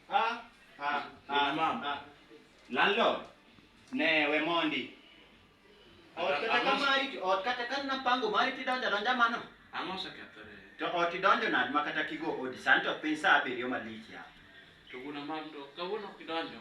Ah, ah, ah, Mama. ah. Landlord, ne we mondi. Ot Aga- kata ka aga- mari, ot kata ka napango mari tidonjo donja mano. Ang'o osekethore? To ot idonjo nade ma kata kigo odi sani to piny saa abiriyo malich ya. To wuon Amando, kawuono kidonjo,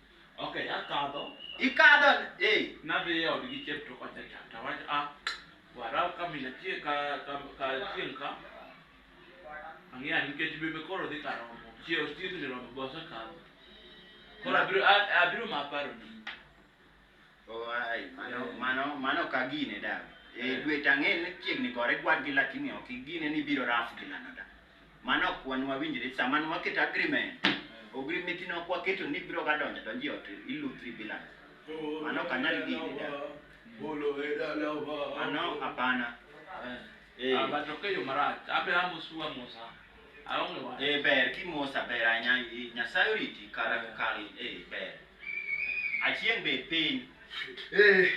Okay, akadho. Ikadho eh. Nadhi e odgi chiep to kocha cha. To wach a ah, wara ka mina chie ka ka ka chien ka. Ang'eya nikech bebe koro dhi ka romo. Chie ostiek ni romo bosa kadho. Koro abiro abiro ma paro ni. Oh, ai, mano, Eh. mano, mano ka gine da. E Eh. dwe tang'e ni chiegni gore gwad gi lakini ok igine ni biro raf gi lano da. Mano ok wan wawinjre sama nwaketo agreement. Agreement no ok waketo ni biro ga donjo donjo e ot ilutri bila. Mano ok anyal gine da. Bolo e dalawa. Mano hapana. Eh. Eh. Ah, but ok e yo marach. Abe amosu amosa. Aonge wach. Eh ber kimosa ber ahinya Nyasaye oriti kar Eh. kar eh ber. Achien be piny. Eh,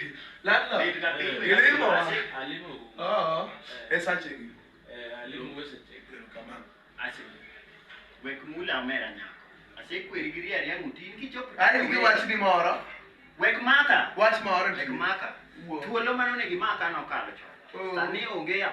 landlord. Bed ka piny. Ilimo wa. Alimo. Oo. E sache gi. Eh, alimo wese tek. Kamano. Ase. Wek mula omera nyako. Ase kweri gi riari yangu tin kichop. Ai gi wach ni moro. Wek maka. Wach moro. Wek maka. Thuolo mano ne gi maka nokalo chon. Sani onge ya.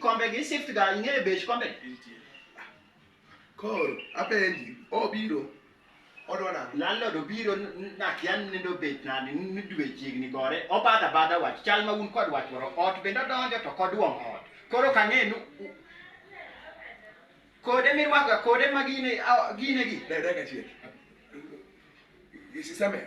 kombe gi shift ga ing'eyo bech kombe koro apenji obiro odwa nang'o landlord obiro n- n- nakia ni nindo bet nade ni ni dwe chiegni gore obadho abadha wach chal ma un kod wach moro ot bende odonjo to koduong' ot koro kang'e ni u- kode mirwakoga kode ma gine a- gine gi dada kachiel isisamer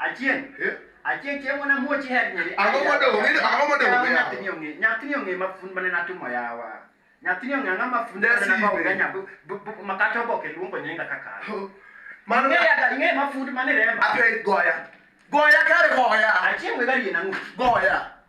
Achieng'. Eh? Achieng' chieng' wana muoch iher nyeri. Ang'o modong' ng'e ang'o modong' ng'e. Nyathini ong'e nyathini ong'e mafund mane natimo yawa. Nyathini ong'e ang'o mafund mane natimo ga nyabu makata oboke luongo nyinga kaka. Mano ng'e ya ng'e mafund mane remba. Ape goya. Goya kare goya. Achieng' we gari na ng'u. Goya.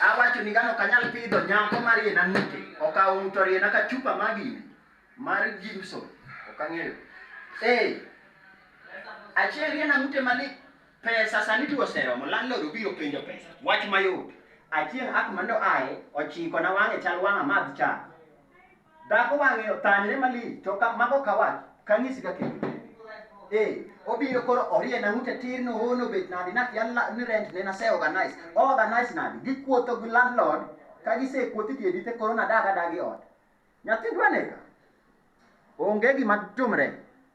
Awacho ni gano kanyal pidho nyako mar yena nute, okawo ng'uto riena ka chupa magine mar Jimson, ok ang'eyo. Ee, achiel riena ng'ute mali pesa sani tu oseromo, landlord obiro penjo pesa. Wach mayot. Achiel ak mando aye, ochiko na wang'e chal wang'a madh cha. Dhako wang'e othanyre malich to ka mago ka wach kang'isi ka kendo. Eh, obiro koro orie na ute tir no hono bet nadi na kia la- ni rent ne na se organize. Organize nadi gikuotho gi landlord ka gise kuothi tie dite koro na daga dagi ot. Nyathi dwaneka. Onge gima tumre.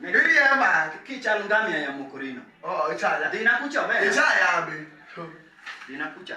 Niriemba kichal ngamia ya mokorino. Oh, ichaya. Dina kucha be. Ichaya be. Dina kucha.